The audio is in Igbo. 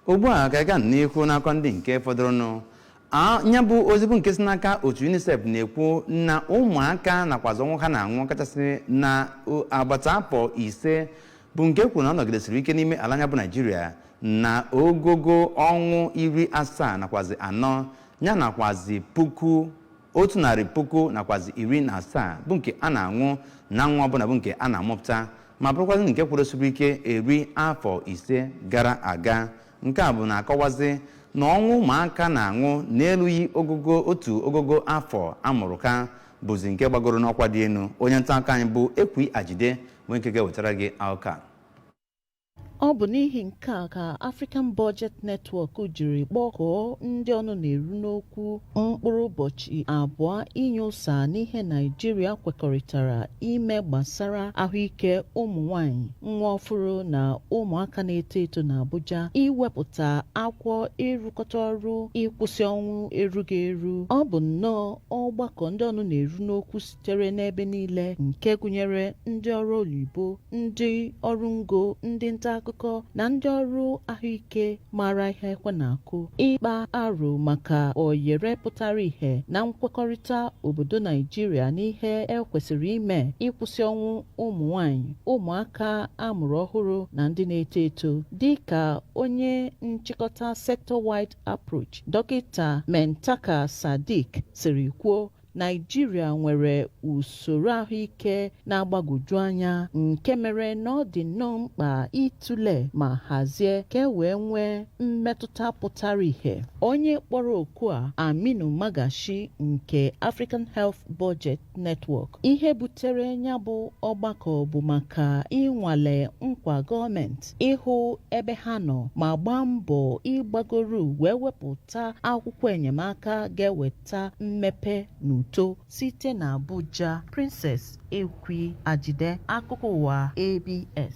ugbu a ka ịga n'ihu n'akụkọ ndị nke fọdụrụnụ nya bụ ozi bụ nke si n'aka otu unicef na-ekwu na ụmụaka nakwazị ọnwụ ha na-anwụ kachasị na agbata afọ ise bụ nke kwuru na ọ nọgidesiri ike n'ime ala anyị bụ naijiria na ogogo ọnwụ iri asaa nakwazị anọ ya nakwazị puku otu narị puku nakwazi iri na asaa bụ nke a na-anwụ na nwa ọbụla bụ nke a na-amụpụta ma bụrụkwazị nke kwụrụsiri ike eri afọ ise gara aga nke a bụ na-akọwazi na ọnwụ ụmụaka na-anwụ n'elughị ogogo otu ogogo afọ amụrụ ka bụzi nke gbagoro n'ọkwa dị elu onye nta akụkọ anyị bụ ekwi ajide bụ nke ga-ewetara gị akụkọ a Ọ bụ n'ihi nke a ka African Budget Network jiri kpọkọọ ndị ọnụ na-eru n'okwu mkpụrụ ụbọchị abụọ inye ụsa n'ihe Naịjirịa kwekọrịtara ime gbasara ahụike ụmụ nwanyị, nwa ọfụrụ na ụmụaka na-eto eto n'Abuja iwepụta akwụkwọ ịrụkọta ọrụ ịkwụsị ọnwụ erughị eru. Ọ bụ nnọọ ọgbakọ ndị ọnụ na-eru n'okwu sitere n'ebe niile nke gụnyere ndị ọrụ oyibo ndị ọrụ ngo ndị nta akụkọ na ndị ọrụ ahụike maara ihe ekwe na-akụ ịkpa aro maka oyere pụtara ihe na nkwekọrịta obodo naijiria n'ihe ekwesịrị ime ịkwụsị ọnwụ ụmụ nwanyị ụmụaka amụrụ ọhụrụ na ndị na-eto eto dị ka onye nchịkọta sector-wide approach dọkịta muntaqa sadiq siri kwuo Naịjirịa nwere usoro ahụike na-agbagwoju anya nke mere na ọ dị nnọọ mkpa ịtụle ma hazie ka e wee nwee mmetụta pụtara ihe. Onye kpọrọ oku a Aminu Magashi nke African Health Budget Network. Ihe butere ya bụ ọgbakọ bụ maka ịnwale nkwa gọọmenti ịhụ ebe ha nọ ma gbaa mbọ ịgbagoro wee wepụta akwụkwọ enyemaka ga-eweta ta mmepe na uto site na Abuja, Princess Ekwi Ajide, Akụkọ Ụwa ABS.